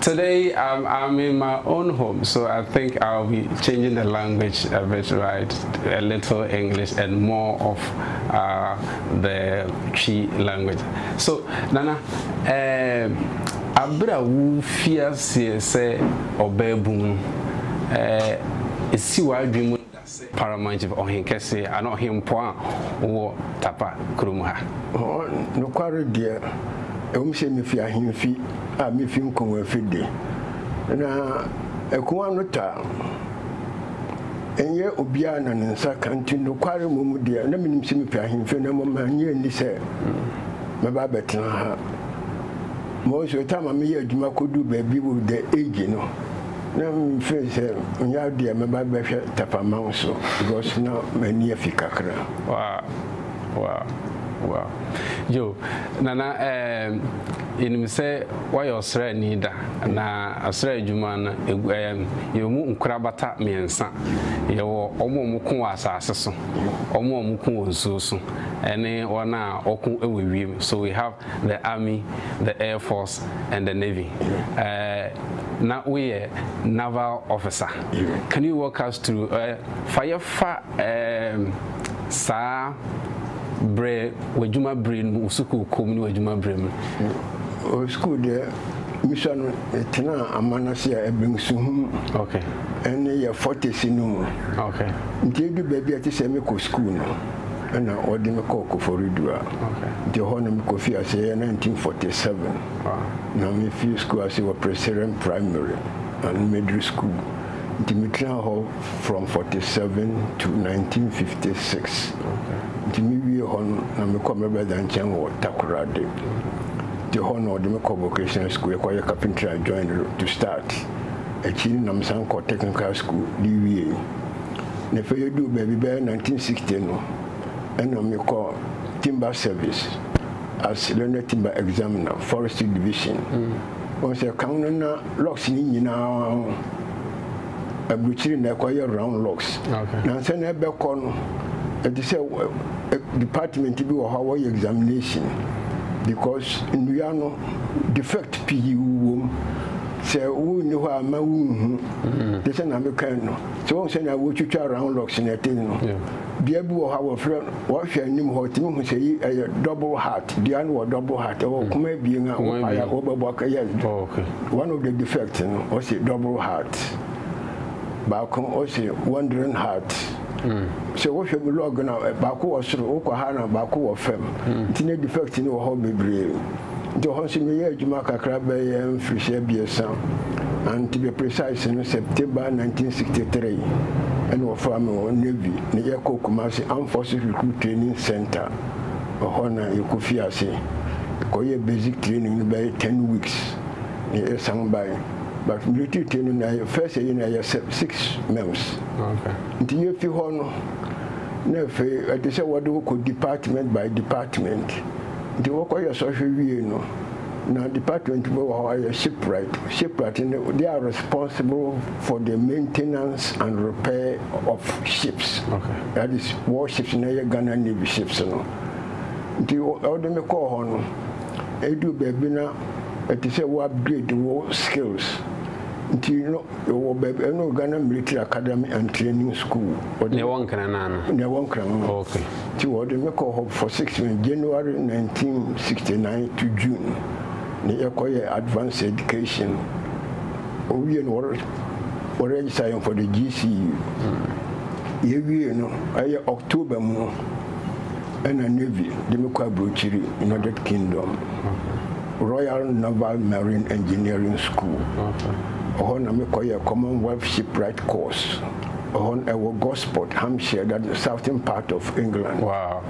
Today I'm I'm in my own home so I think I will be changing the language a bit right a little English and more of uh, the Twi language. So Nana, eh, abira wu fiaseɛ sɛ ɔbɛɛbun no, eh, esi w'adwene mu. Paramount Ɔhenkɛse anaa Ɔhempɔn a ɔwɔ Tapa kurom ha. Nokware deɛ, ɛwom sɛ mifi ahemfi a mifi Nkonwafi de, na akumaa no ta nyɛ obiara na ne nsa ka nti nokware mu mu deɛ na minim sɛ mifi ahemfi na mmom mannye anni sɛ mɛba abɛtena ha. Mo nso, ɛtaa ma meyɛ adwuma koduu baabi wɔ the age no. Na mefrɛe sɛ, Onyɛ ade a mɛba abɛhwɛ tɛfama wo so because na m'ani afi kakra. Wow wow wow Joe Nana ehm yɛnim sɛ woayɛ ɔsraani da na asra adwuma no ehm yɛwɔ mu nkorabata mmiɛnsa, yɛwɔ wɔn a wɔko wɔ asase so, wɔn a wɔko wɔ nsuo so ɛne wɔn a wɔko wɔ wiem so we have the Army, the Air Force and the Navy. Uh, na woyɛ naval officer. Can you walk us through? Uh, fa yɛfa um, saa berɛ w'adwuma berɛ no mu sukuu kɔm ne w'adwuma berɛ mu. Oh, sukuu deɛ mesua no ɛtenaa amanase a ɛbɛn suhum ɛne yɛ fɔtesi no mu nti ɛdu baabi a ɛte sɛ mekɔ sukuu no Ɛna ɔde me kɔɔ Koforidua. Nti ɛhɔ na me kɔ fii aseɛ yɛ 1947. Na me firi sukuu ase wɔ Preseren Primary Animadiri sukuu. Nti me tenaa hɔ from 47 to 1956. Nti me wie hɔ no na me kɔ me brother nkyɛn wɔ Takoradi. Nti ɛhɔ na ɔde me kɔ vocational sukuu yɛ kɔ yɛ carpentry and joinery to start. Akyiri no na me san kɔ technical sukuu de wiee. Na afei yɛduu baabi bɛyɛ 1960 no, ɛna mekɔɔ Timber Service as Learned Timber Examiner, Forestry Division. Wohu sɛ kan no na logs no nyinaa ho aburukyiri na ɛkɔyɛ round logs. Na ansa na ɛbɛkɔ no, ɛte sɛ department bi wɔ hɔ a wɔyɛ examination because nnua no defect pii wom. Sɛ wonni hɔ a ma wonhu. Te sɛ na mekae no. So wohu sɛnea wotwitwa round locks na ɛte no? Dua bi wɔ hɔ a wɔfrɛ no, wɔhwɛ anim hɔ tumi hu sɛ yi ɛyɛ double heart. Dua no wɔ double heart, ɛwɔ mm. koma abien a wopae a wobɛbɔ aka yɛ oh, one of the defects no ɔse double heart. Baako ɔse wandering heart. Mm. Sɛ wohwɛ mu log na eh, baako wɔ soro, wokɔ ha na baako wɔ fam. Mm. Nti ne defect no wɔ hɔ bebree. Nti hɔ nso meyɛɛ adwuma kakra bɛyɛ mfirihyia abiɛsa and to be precise no September 1963 ɛna wɔfaa me wɔ Navy na yɛkɔɔ Kumasi Armed Forces Recruit Training Centre ɛhɔ na yɛkɔfii ase kɔyɛɛ basic training no bɛyɛ ten weeks na yɛsan bae but military training na yɛ first ayi na yɛ six months nti yɛfi hɔ no na afei ɛte sɛ wɔde wo kɔ department by department Nti wɔkɔyɛ sɔhwɛ wiei no, na department bi wɔ hɔ a yɛ shipwright, shipwright no they are responsible for the maintenance and repair of ships, okay. that is war ships na yɛ Ghana Navy ships no. Nti ɔde me kɔɔ hɔ no, ɛduru baabi na ɛte sɛ wo upgrade wo skills nti no Ewɔ bɛɛbi ɛna wɔ Ghana Military Academy and Training School. Na ɛwɔ Nkran naa no? Na ɛwɔ Nkran no. Ok. Nti wɔde me kɔɔ hɔ for six months, January nineteen sixty nine to June na yɛkɔ yɛɛ advanced education. Wowie no wɔ wɔ register yɛn for the GCU. Yɛwie no ɛyɛ October mu no. Ɛna Navy de me kɔ abrokyiri United Kingdom Royal Naval Marine Engineering School. Ɛhɔ na me kɔyɛɛ Commonwealth Shipwright course. Ɛhɔ no ɛwɔ Gosport, Hampshire, that southern part of England. Wow.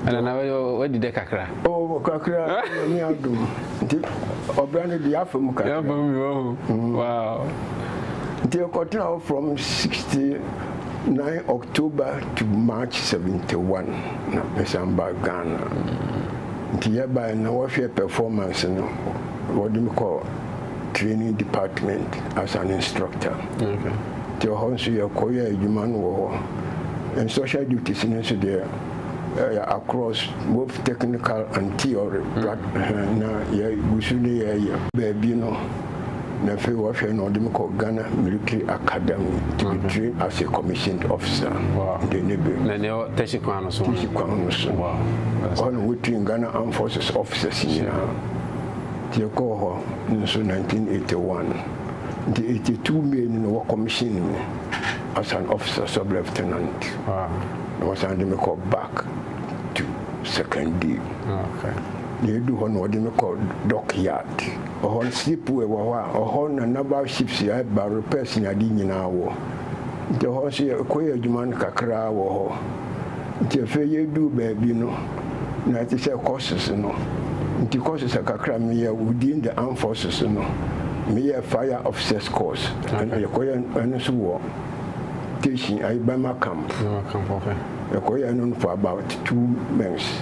Ɛna na wadi dɛ kakra. Oh, kakra, ɛni adum. Nti, ɔbra ne di afa mu kakra. Afa mu, oh, wow. Nti, ɛkɔtena hɔ from 60 Nine October to March seventy one na mesan baa Ghana. Nti yɛbaeɛ na wɔhwɛɛ performance no, wɔde me kɔɔ training department as an instructor. Nti ɛhɔ nso yɛkɔyɛɛ adwuma no wɔ hɔ. And social duties no nso deɛ ɛyɛ across both technical and theory. Na yɛgu so ne yɛyɛ. Baabi no Na afei ɔhwɛ na ɔde me kɔ Ghana Military Academy to be mm-hmm. trained as a commissioned officer. Wow. De ne be. Na ne tɛsi kwan no so. Tɛsi kwan no so. Wow. Ɔhɔ na wɔtui Ghana Armed Forces officers nyinaa. Nti ɛkɔɔ hɔ no nso 1981. Nti 82 May no na wɔkɔmihyin me as an officer sub lieutenant. Wow. Na wɔsan de me kɔ back to second day. Okay. Na edu hɔ na wɔde me kɔ dockyard. Ɔhɔ slip well wɔ hɔ a, ɔhɔ na Nabal ships a ɛba repairs ne ade nyinaa wɔ. Nti ɛhɔ nso yɛkɔ yɛ adwuma no kakraa wɔ hɔ. Nti afei yɛduu baabi no, na te sɛ courses no. Nti courses a kakra meyɛ within the armed forces no, meyɛɛ fire officers course. Ɛna yɛkɔyɛ ɛno nso wɔ Teshin, ayi Burma camp. Yɛkɔyɛɛ ɛno no for about two months.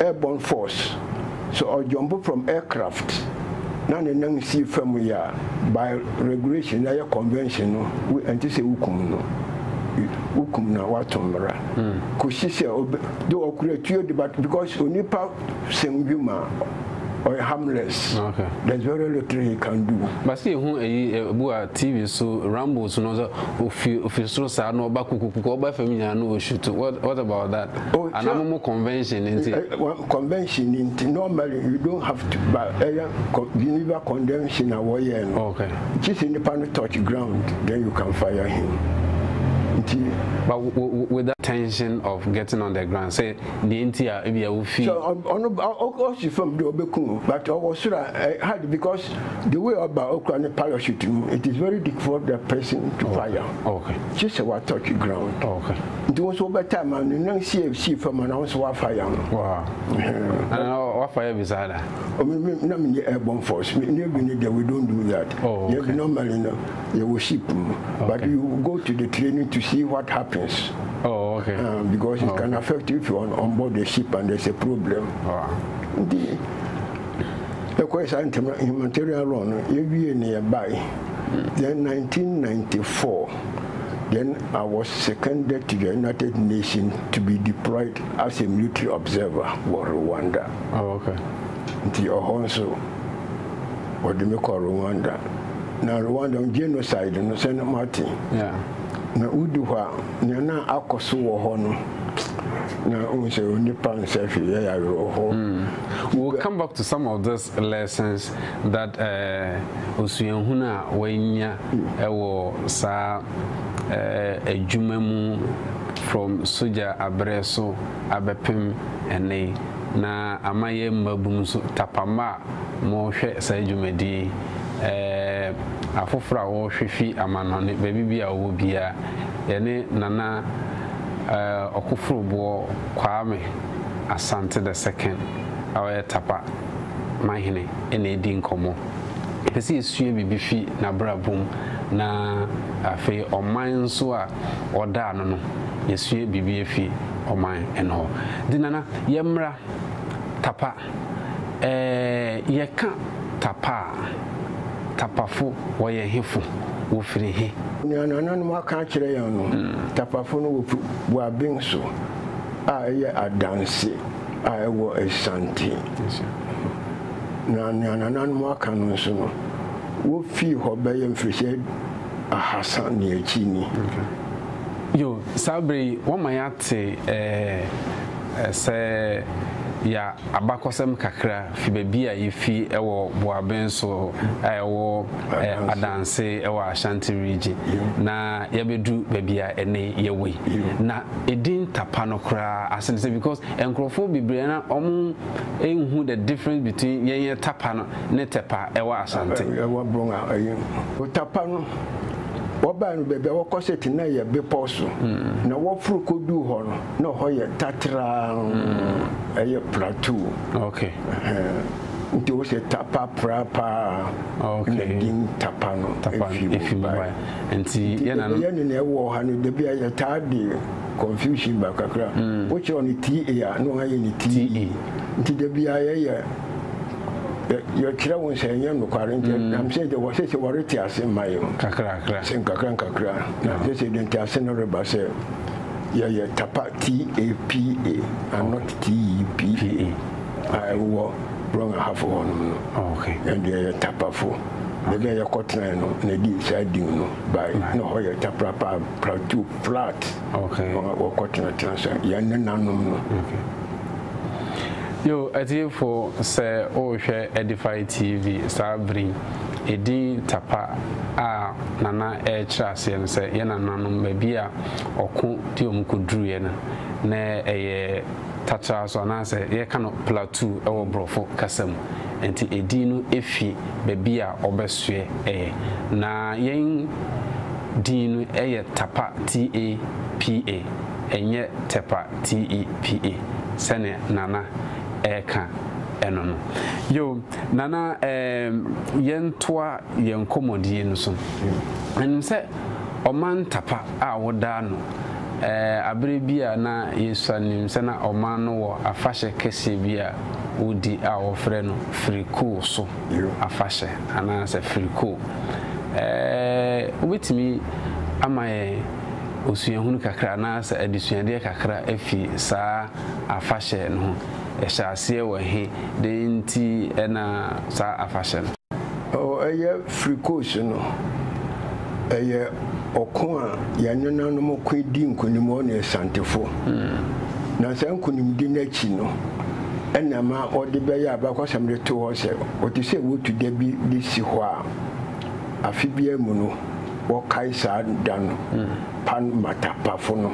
Airborne Force, sɛ ɔdwɔmbo from aircraft na ne nan sii famu yɛ a, by regulation na yɛ convention no, ɛnte sɛ wokum no. Wokum no a, woato mmara. Kosi sɛ ɔbɛ, though ɔkura tuo de, but because onipa sɛm dwuma a, ɔyɛ harmless. Okay. There's very little he can do. But sɛ yɛhu ayi ɛbu a TV so Rambos no sɛ ofi ofi soro saa na ɔba kukukuku ɔba fam nyinaa na ɔshutu. What what about that? Oh, Ana mo mo convention ni nti? Eh, eh, convention ni nti. Normally you don't have to buy. Ɛyɛ Geneva convention a wɔyɛ no. Okay. Gye sɛ nipa no touch ground, then you can fire him. Nti. But with that tension of getting on the ground, sɛ deɛ nti a ebi a wofi. So ɔno ɔsi fam de ɔbɛkum but ɔwɔ soro a hard because the way ɔba okura ne parachute mu it is very difficult for the person to fire. Okay. Gye sɛ wa touch ground. Okay. nti wo nso wobɛtaa ma no na si si fam na wo nso woafa yɛn no wafa yɛ bisaa da na menyɛ airborne force navy no deɛ we don't do that oh, yɛbi normally no yɛwɔ ship mu but you go to the training to see what happens oh, okay. uh, because it oh, can affect if you're on, on board the ship and there's a problem nti ɛkɔɛ saa ntɛm humanitarian law no yɛwie ne yɛbae then 1994 Then I was seconded to the United Nations to be deployed as a military observer wɔ Rwanda. Oh, okay. Nti ɔhɔ nso wɔde me kɔ Rwanda. Na Rwanda genocide no sɛ na mate. Yeah. Na wodu hɔ a nea na akɔ so wɔ hɔ no na wohu sɛ onipa nsɛ hwee yɛ awerɛhoɔ. Mm. We'll come back to some of this lessons that eh Osuahunu a wanya wɔ saa eh adwuma mu from sogya aberɛ so abɛpem ɛnnɛ yi na ama yɛn mmabunu nso tapama a mohwɛ saa dwumadie yi eh afoforɔ a wɔhwɛ fi amanɔne baabi biara wɔwɔ biara yɛne Nana eh Ɔkoforoboɔ Kwame Asante the second Ɔyɛ Tapa manhene na edi nkɔmmɔ. Yɛpɛ sɛ yesua biribi fi n'abrabɔ mu na afei ɔman nso a ɔda ano no, yesua biribi afi ɔman no hɔ. Nti Nana, yɛmmra Tapa. Ɛɛ, yɛka Tapa a, Tapafo wɔyɛ hefo? Wɔfiri he? Nea nananom aka akyerɛ yɛn no, Tapafo no wɔ Buabin so a ɛyɛ Adanse. a ɛwɔ Ashanti, na nea nananom aka no nso no, wofii hɔ bɛyɛ mfirihyia ahasa ne akyi ni. Yo, saa bere yi woama yɛate ɛɛ sɛ yɛ abakɔsɛm kakra. fi baabi a yefi wɔ Boaben so a ɛwɔ Adanse wɔ Ashanti Region na yɛabedu baabi a ɛnnɛ yɛwɔ yi. Na edin Tapa no koraa ase ne sɛ because nkurɔfoɔ bebree na wɔnhu the difference between yɛn yɛ Tapa no ne Tɛpa ɛwɔ Ashanti. Ɛwɔ Brong a ɛyɛ mu. Tapa no wɔbae no baabi a wɔkɔ sɛ te na ɛyɛ bepɔw so na wɔforo kɔduu hɔ no na hɔ yɛ tatraa ɛyɛ plateau okay nti wo sɛ tapa pra paa okay na din tapa no efi mu ba nti yɛ na yɛ ne na ɛwɔ ha no de bi ayɛ taa de confusion ba kakra wo kyerɛ no ti e a no ayɛ ne ti e nti de bi ayɛ yɛ yɛkyerɛ wo sɛ ɛnyɛ nokware nti mm. nam sɛ de wɔ sɛ sɛ wɔrete ase ma yɛ kakra kakra sɛ nkakra nkakra na sɛ sɛ de nte ase no reba sɛ Yɛyɛ Tapa, T-A-P-A and not T-E-P-A, a ɛwowɔ Brong Ahafo hɔnom no. Yɛn deɛ yɛyɛ Tapafo. Baabi a yɛkɔtenae no na ɛde saa din no bae. Na hɔ yɛ Taprapa, Plateau Flat, na wɔkɔtenatena so, yɛn nenanom no. Yo, atiefo, sɛ worehwɛ Edify TV saa bere yi, edin Tapa a Nana rekyerɛ aseɛ no, sɛ yɛn nananom, baabi a ɔko de wɔn kɔduruiɛ no, na ɛyɛ Tatra so anaasɛ yɛka no Plateau wɔ borɔfo kasa mu. Nti edin no fi baabi a wɔbɛsoɛ ɛ. Na yɛn din no yɛ Tapa, T-A-P-A, ɛnyɛ Tepa, T-E-P-A, sɛdeɛ Nana reka no no. Yo, Nana, ɛɛm, yɛntoa yɛn nkɔmmɔdie no so. Menim sɛ Ɔman ntapa a wodaa no ɛɛ bere bi a na yesua nim sɛ na ɔman no wɔ afahyɛ kɛseɛ bi a wodi a wɔfrɛ no Firikoo so afahyɛ anaasɛ Firikoo ɛɛ wobɛtumi ama yɛn osuahunu kakra anaasɛ adesuadeɛ kakra afi saa afahyɛ no ho? Ɛhyɛ aseɛ wɔ he? Dɛn nti na saa afahyɛ no. Oh, ɛyɛ firi Kos no. Ɛyɛ ɔko a yɛn nenanom koe dii nkonim wɔ ne Asantefo. Na saa nkonimdi no akyi no, ɛna ɛma wɔde bɛyɛ abakɔsɛm de too hɔ sɛ wɔte sɛ wotu da bi de si hɔ a, afe biara mu no, wɔkae saa da no, Pan Matapafo no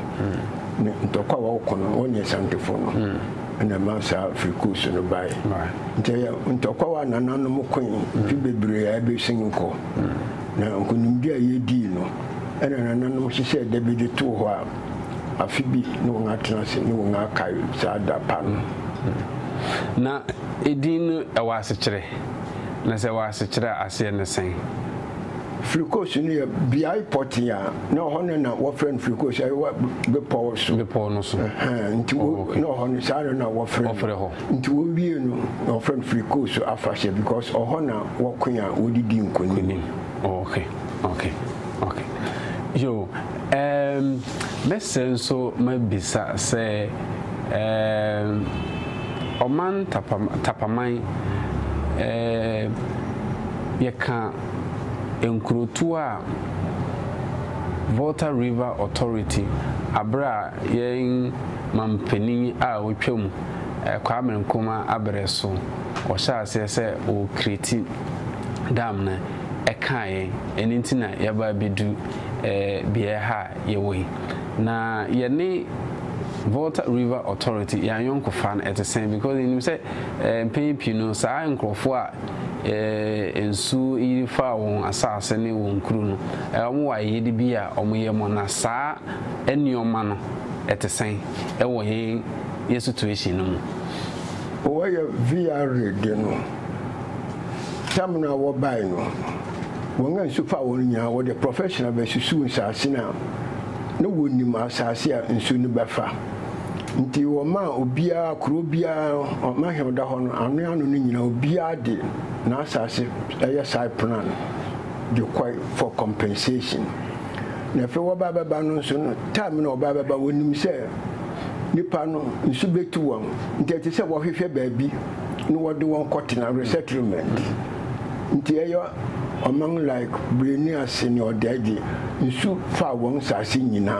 ne ntɔkwaw a wɔko no wɔ ne Asantefo no. na ɛma saa firi Kus no bae. Nti ɛyɛ ntɔkwaw a nananom koe mfe bebree a ɛbɛsen kɔ, na nkonimdi a yedii no na nananom hyehyɛɛ da bi de too hɔ a afe bi na wɔatena ase na wɔakae saa da pa no. Na edin no, ɛwɔ asekyerɛ? Na sɛ ɛwɔ asekyerɛ a, aseɛ ne sɛn? Filikos no yɛ beae pɔtee a na ɛhɔ no na wɔfrɛ no Filikos ɛwɔ bepɔw so. Bepɔw no so. Nti wo oh, na ɔhɔ no saa no na wɔfrɛ wɔfrɛ hɔ. Nti wɔwie no na wɔfrɛ no Filikos afahyɛ because ɔhɔ na wɔko a wɔde di nkonim. Oh, okay, okay, okay. Yo, um, mɛsɛ nso mabisa sɛ um, ɔman tapaman eh, yɛka nkurotoɔ a Volta River Authority aberɛ a yɛn manpanin a ɔtwa mu, Kwame Nkrumah aberɛ so ɔhyɛɛ aseɛ sɛ ɔrekreti dam no ɛkaa yɛn. Ɛno nti na yɛaba abɛdu beaɛ ha a yɛwɔ yi. Na yɛne Volta River Authority yɛn ayɔnkofa no ɛte sɛn because yɛnim sɛ mpɛn pii no saa nkorɔfoɔ a Ɛɛ, nsu yiri faa wɔn asase ne wɔn nkuro no. Ɛɛ, wɔwɔ ayɛyɛde bi a wɔyɛ mɔ, na saa nneɛma no, ɛte sɛn wɔ yɛn yɛn situation no mu? Wɔ yɛ VR de no, tam no a wɔbae no, wɔn a nsu faa wɔn no nyinaa, wɔde professional bɛsusuw nsase no a na wɔnnim asase a nsu no bɛfa. Nti wɔmaa obiara, kuro biara, ɔman he ɔda hɔ no, ano ano no nyinaa obiara de n'asaase yɛ side plan de kɔe for compensation. Na afei wɔba bɛba no nso no, time no a wɔba bɛba wɔnim sɛ nnipa no nsu bɛtu wɔn, nti ɛte sɛ wɔhwehwɛ baabi na wɔde wɔn kɔtena, resettlement. Ntsi ɔyɛ ɔman like Breni ase ne Ɔdaadzi, nsu faa hɔn nsaase nyina.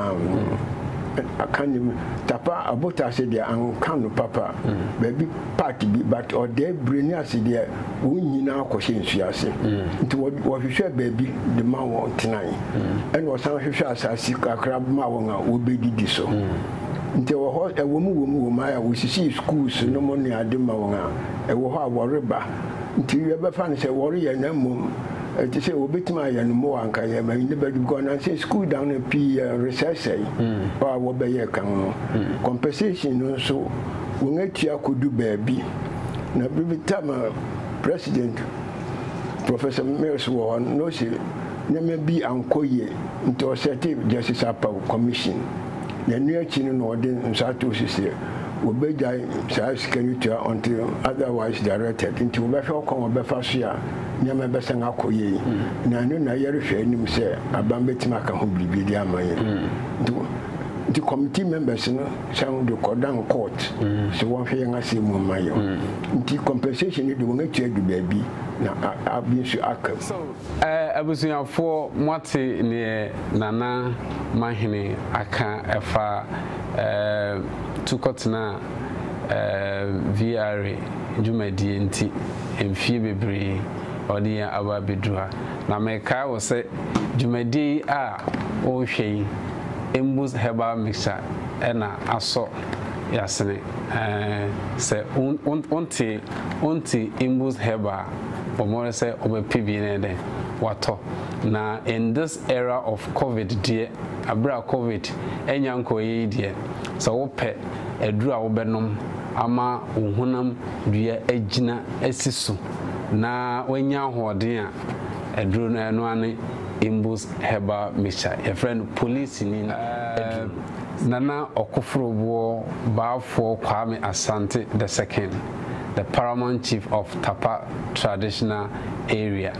Aka no mu, Tapa Abotase deɛ annka no papa, baabi part bi, but Ɔdae Breni ase deɛ hɔn nyina kɔhyɛ nsu ase. Ntsi wɔhwehwɛɛ baabi de maa hɔn tsenae, nna wɔsan hwehwɛɛ asaase kakra maa hɔn a wobedidi so. Ntsi wɔ hɔ, wɔ mu wɔ mu wɔ mu, ayɛ a wosisii schools nom ne ade maa hɔn a, wɔ hɔ a wɔreba, Nti yɛbɛfa no sɛ wɔreyɛ na mmom ɛte sɛ wɔbɛtumi ayɛ no mmoa nka yɛ ma ne bɛdu because nansɛ school dan no pii yɛ resɛesɛe hɔ a wɔbɛyɛ kan no compensation no nso wɔn atua kɔdu baabi na bere time a president Professor Mills wɔ hɔ no na ɔse nneɛma bi ankɔ yie nti ɔsɛte Justice Apawu commission na ɛno akyi no na ɔde nsɔato sisi wɔbɛgyae saa sika no tua until otherwise directed nti wɔbɛhwɛ ɔkwan a wɔbɛfa so a nneɛma ɛbɛsan akɔ yie na ɛno na yɛrehwɛ anim sɛ aban bɛtumi aka ho biribi de ama yɛn nti nti committee members no san de kɔdan court sɛ wɔnhwɛ yɛn asɛm mu mma yɛn nti compensation no de wɔn atua adu baabi na abi nso aka mu. Abusuafoɔ moate deɛ Nana Mahene aka ɛfa tu kɔtena VRA dwumadie nti mfie bebree a ɔde yɛn aba abɛduru ha. Na mekae wo sɛ dwumadie yi a wohwɛ yi Mbuz herbal mixture na asɔ yasene. Sɛ wonte Mbuz herbal a. Wɔre sɛ wɔbɛpe bi na ɛdɛn watɔ na in this era of covid deɛ aberɛ a covid anya nkɔeɛ yi deɛ sɛ wopɛ aduru a wobɛnom ama wo honam dua agyina asi so na wanya ahoɔden a aduru no ɛno ara ne Imbus herbal mixture yɛfrɛ no polisini aduru. Nana Ɔkoforoboɔ Baafoɔ Kwame Asante the second. the paramount chief of Tapa traditional area.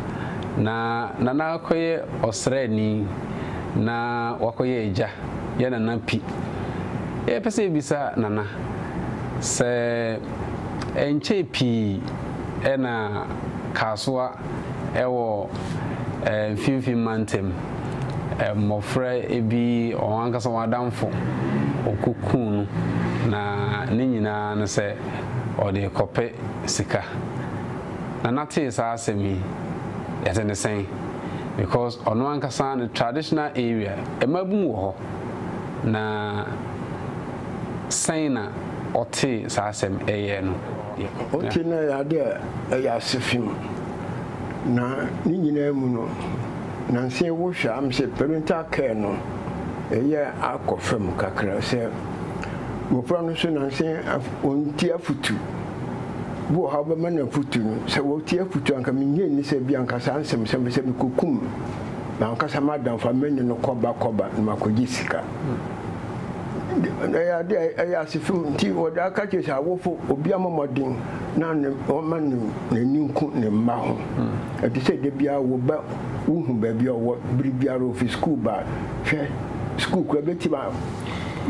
Na Nana kɔyɛ ɔsraani na wakɔyɛ agya yɛ Nana Pi. Yɛpɛ sɛ yɛbisa Nana sɛ ɛnkyɛe pii na Kasoa wɔ Mfimfini Mantam mmɔfra bi wɔn ankasa wɔn adamfo wɔkɔkuu no na ne nyinaa ne sɛ ɔde rekɔpɛ sika. Nana tee saa asɛm yi, yɛte ne sɛn? Because ɔno ankasa ne traditional area, mmabun wɔ hɔ. Na sɛn na ɔtee saa asɛm ɛyɛɛ no ya? Ɔtee no ɛyɛ adeɛ a ɛyɛ asefi mu. Na ne nyinaa mu no, nansa yi wohwɛ a, am sɛ parental care no ɛyɛ akɔ fam kakra sɛ. Mmofra no so nanse wɔntie afotu. Bi wɔ hɔ a wobɛma no afotu no, sɛ wɔtie afotu a anka minnye nni sɛ ebia anka saa nsɛmnsɛm bi sɛ mikokum m'ankasa m'adamfo a me ne no kɔba kɔba na makogye sika. Ɛyɛ ade a ɛyɛ asefo nti wɔde aka kyerɛ sɛ awofo obiara mmɔ mmɔden na ɔmma n'ani nku ne mma ho. Ɛte sɛ da biara wo ba wuhu baabi a ɔwɔ bere biara ofi sukuu ba a, hwɛ, sukuu koraa betim a.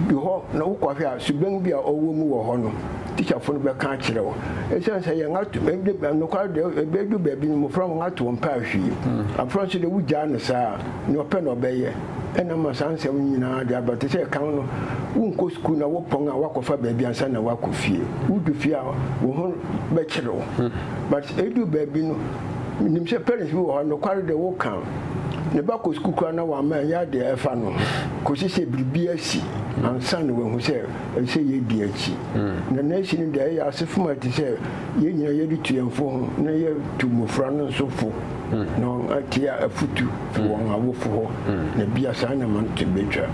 Du hɔ na wokɔhwɛ a, suban bi a ɔwɔ mu wɔ hɔ no, tikyafo no bɛka akyerɛ wo. Esiane sɛ yɛn ato, ɛde, nokware de, ebedu baabi no, mmofra wɔn ato wɔn mpaa hwee. Afra nso de, wugyaa no saa a, nea ɔpɛ na ɔbɛyɛ. Ɛna ama saa nsɛm no nyinaa de aba. Te sɛ kan no, wonkɔ sukuu na wopɔn a, woakɔfa baabi ansa na woakɔ fie. Wudu fie a, wo ho bɛkyere wo. But edu baabi no, Minim sɛ parents bi wɔ hɔ a, nokware de, woka ne ba kɔ sukuu koraa na wamma anyɛ ade a ɛfa no ho kosi sɛ biribi asi ansa na wahu sɛ ɛsɛ sɛ yedi akyi. Na nea asi no de, ɛyɛ asefom a ɛte sɛ yɛn nyinaa yɛde tu yɛn fo ho na yɛatu mmofra no nso fo na wɔatie afotu fi wɔn awofo hɔ, na ebia saa na ɛma no to betwa.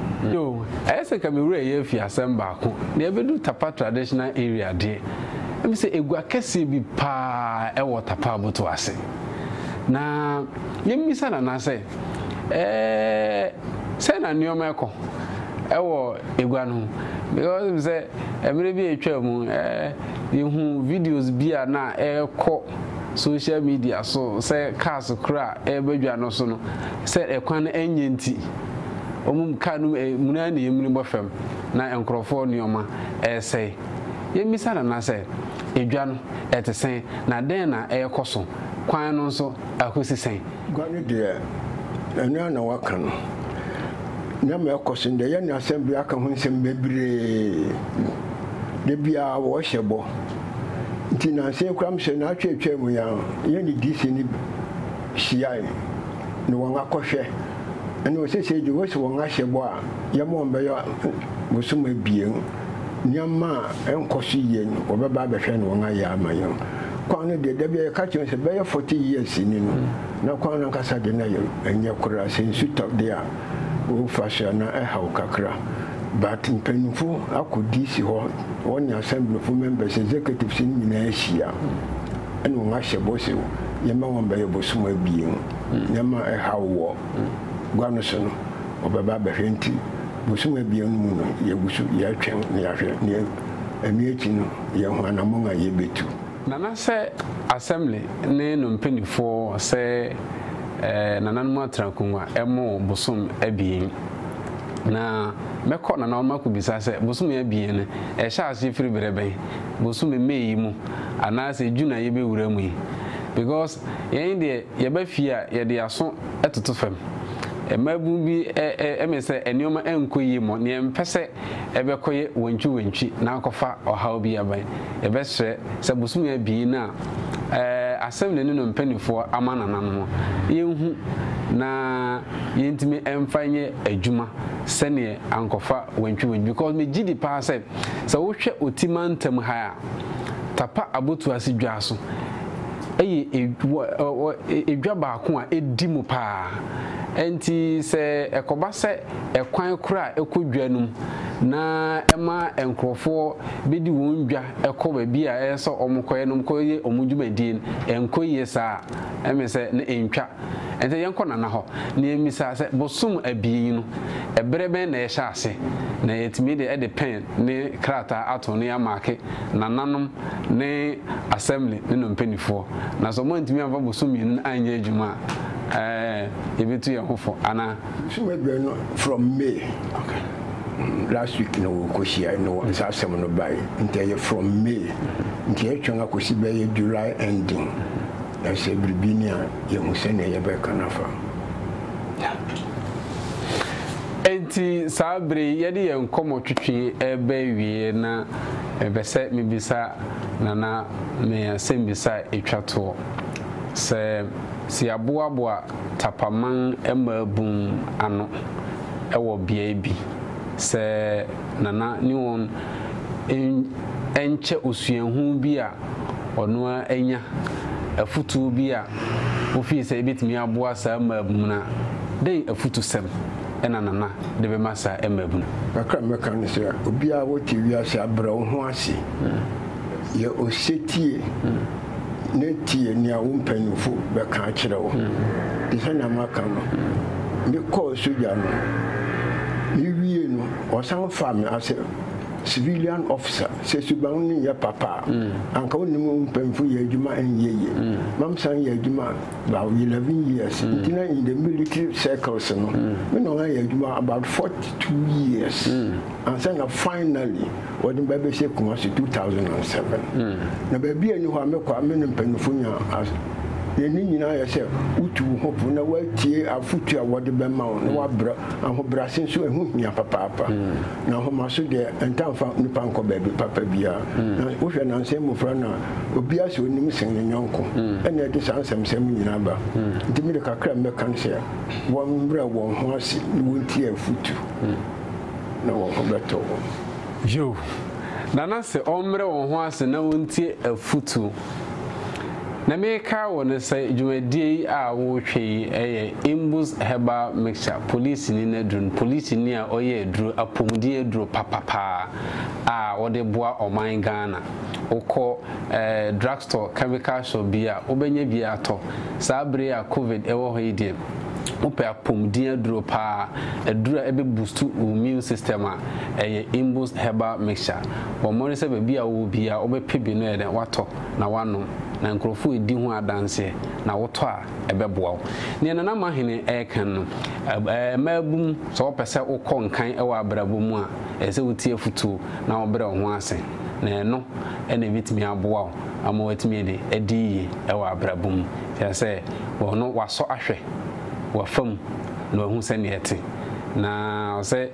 Ɛyɛ sɛ nka me werɛ refi asɛm baako, nea ebedu Tapa Traditional Area deɛ, Ɛne sɛ agua kɛseɛ bi paa wɔ Tapaboto ase. Na yɛmmisa Nana sɛ, Ɛɛɛ, sɛn na nneɛma rekɔ wɔ agua no ho? Because wonim sɛ mmerɛ bi a ɛtwaa mu, yɛhu videos bi a na ɛrekɔ social media so sɛ cars korɔ a ɛreba adwa no so no, sɛ ɛkwan no ɛnyɛ nti, wɔn car no mu amuna na amuni bɔ fam na nkorɔfoɔ nneɛma ɛresɛe. Yemmisa Nana sɛ, Edwa no, ɛte sɛn, na dɛn na ɛrekɔ so? Kwan no nso, akosi sɛn? Gua no deɛ, ɛno ara na wɔaka no. Nneɛma a ɛrekɔ so no deɛ, yɛn ne asɛmdwoeɛ aka ho nsɛm bebree. Da biara wɔrehyɛ bɔ. Nti nnansa yi koraa mehyɛ nnaawɔtwe a ɛtwaam yi ara, yɛn ne DC no hyiae, na wɔn akɔhwɛ. Ɛnna seesei deɛ, wɔasi wɔn ahyɛ bɔ a yɛma wɔn bɛyɛ bosom abien. nneɛma a ɛnkɔ so yie no, wɔbɛba abɛhwɛ na wɔayɛ ama yɛn. Kwan no deɛ, da bi a yɛka kyerɛ wɔn sɛ bɛyɛ forty years ni no, na kwan no ankasa deɛ na ɛnyɛ koraa. Sɛ nsu tɔ deɛ a, wofa so a, na ɛhaw kakra. But mpanyimfo akɔ DC hɔ, wɔne Assemblyfo, members, executives no nyinaa ahyia, ɛna wɔahyɛ bɔ sɛ yɛmma wɔn bɛyɛ bosom abien. Nneɛma a ɛhaw wɔ gua no so no, wɔbɛba abɛhwɛ nti, bosoom abien no mu no, yɛgu so yɛretwɛn na yɛahwɛ nea ɛno akyi no, yɛahu anammɔn a yebetu. Nana sɛ Assembly ne no mpaninfoɔ sɛ nananom atra akonwa mo bosom abien na mɛkɔ nana hɔ makɔ bisa sɛ bosom abien no ɛhyɛ aseɛ firi berɛ bɛn bosom May yi mu anaasɛ June a yɛbɛwura mu yi because yɛn deɛ yɛba fie a yɛde yɛaso toto fam. Mmaabun bi mee sɛ nneɛma nkɔ yie mmɔ nea ɛmpɛ sɛ ɛbɛkɔyɛ wantwiwantwi na akɔfa ɔhaw bi aba. Yɛbɛsrɛ sɛ bosome abien a Assembly ne no mpanimfoɔ ama nana no yɛnhu na yɛntumi mfa nyɛ adwuma sɛdeɛ ankɔfa wantwiwantwi because megye di paa sɛ sɛ wohwɛ Oti mantam ha a Tapa Abotuase dwa so yɛ edwa baako a edi mu paa. Enti sɛ ɛkɔba sɛ ɛkwan koro a ɛkɔ dwa no mu na ɛma nkurɔfo bedi wɔn dwa kɔ baabi a ɛyɛ sɛ wɔkɔyɛ na wɔkɔyɛ wɔn dwumadi no, ɛnkɔ yiye saa a, ɛmee sɛ na entwa sɛ yɛnkɔ Nana hɔ. Na yemmisa sɛ bosom abien no, bere bɛn na yɛhyɛ ase? Na yɛatumi de de pɛn ne krataa ato na yɛamaake Nananom ne Assembly ne no mpaninfoɔ, na sɛ wɔantumi amfa bosome mmienu no anyɛ adwuma a, ɛɛ, yɛbɛtu yɛn ho fo, anaa? So woadwene no from May? Okay. Last week na wɔkɔhyiae no wɔn saa asɛm no bae, nti ɛyɛ from May, nti yɛtwɛn akɔsi bɛyɛ July ending, na sɛ biribi ni a, yɛahu sɛdeɛ yɛbɛka no afa. Yeah. Enti saa bere yi yɛde yɛn nkɔmmɔtwetwe reba awieɛ na Mepɛ sɛ mebisa Nana me asɛmbisa a ɛtwa toɔ. Sɛ sɛ yɛaboaboa Tapaman mmaabun ano wɔ beaɛ bi, sɛ Nana ne wɔn nkyɛ osuahu bi a ɔno ara anya, afutuo bi a ofii sɛ ɛbɛtumi aboa saa mmaabun no a, dɛn afutusɛm na Nana de bɛma saa mmabunu? Kakra a mɛka ne sɛ, obiara a wote wiase a brɛ wo ho ase, yɛ osetie na tie nea wo mpanyimfo bɛka akyerɛ wo. Te sɛ nea maka no, mekɔɔ sogya no, miwiei no wɔsan faa me as a civilian officer. Sɛ suban no nyɛ papa a, anka wonnim wo mpanyimfo yɛ adwuma nyɛ yiye ma mesan yɛɛ adwuma a about eleven years mm. nti na in the military circles no mm. me na ɔno ayɛ adwuma about forty two years mm. ansa na finally wɔde me bɛbɛhyɛ kuma so two thousand and seven mm. na baabi a ɛni hɔ a mekɔ a me ne mpanyinfo nya yɛn ne nyinaa yɛ sɛ wotu wo ho po na woatie afotu a wɔde bɛma wo na woabrɛ ahobrɛase nso ɛho hia papaapa mm. na ahomaso deɛ ɛntamfa nipa nkɔ baabi papa biara mm. na wohwɛ nansɛ mmofra no a Obiara sɛ onim sen ne yɔnko na ɛde saa nsɛmnsɛm yi nyinaa ba. Enti me de kakra a mɛka ne sɛ wɔmmrɛ wɔn ho ase na wontie afotu na wɔn ho bɛtɔ wɔn. Yiw, Nana se wɔmmrɛ wɔn ho ase na wontie afotu. Nea merekae wo ne sɛ dwumadie yi a woretwɛn yi yɛ Imbus Herbal Mixture polisini no aduru no, polisini a ɔyɛ aduru, apomuden aduru papa paa a wɔde boa ɔman Ghana. wokɔ drug store, chemical shop bi a, wobɛnya bi atɔ. Saa bere yi a Covid wɔ hɔ yi deɛ, wopɛ apɔmuden aduro paa, aduro a ɛbɛ boost wo immune system a, ɛyɛ Imbus herbal mixture. Bɔ mmɔden sɛ baabi a wowɔ biara wobɛpɛ bi na woayɛ dɛn, woatɔ na woanom. Na nkurɔfo redi ho adanseɛ na wotɔ a, ɛbɛboa wo. Deɛ Nana Mahene reka no, mmaabun, sɛ wopɛ sɛ wokɔ nkan wɔ abrabɔ mu a, ɛsɛ sɛ wotie afotuo na wobrɛ wo ho ase. na ɛno na ɛbɛtumi aboa wo ama woatumi de adi yie wɔ abrabɔ mu. Kyerɛ sɛ, ɔno wasɔ ahwɛ w'afa mu na wahu sɛdeɛ ɛte. Na ɔsɛ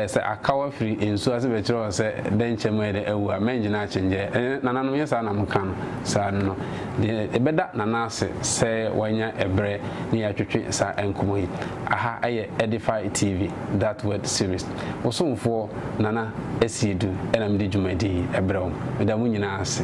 sɛ aka wo afiri nsuo ase bɛkyerɛ wo sɛ dɛnkyɛm ayɛ dɛ awu a, mɛngyina akyengyɛ. Nananom, nyɛ saa na moka no saa no. Deɛ ɛbɛda Nana ase sɛ wanya ɛberɛ ne yɛn atwetwe saa nkɔmmɔ yi. Aha yɛ Edify TV, That Word Series. Wo somfoɔ. Nana Asiedu na mede dwumadi yi brɛ wo. Meda mo nyinaa ase.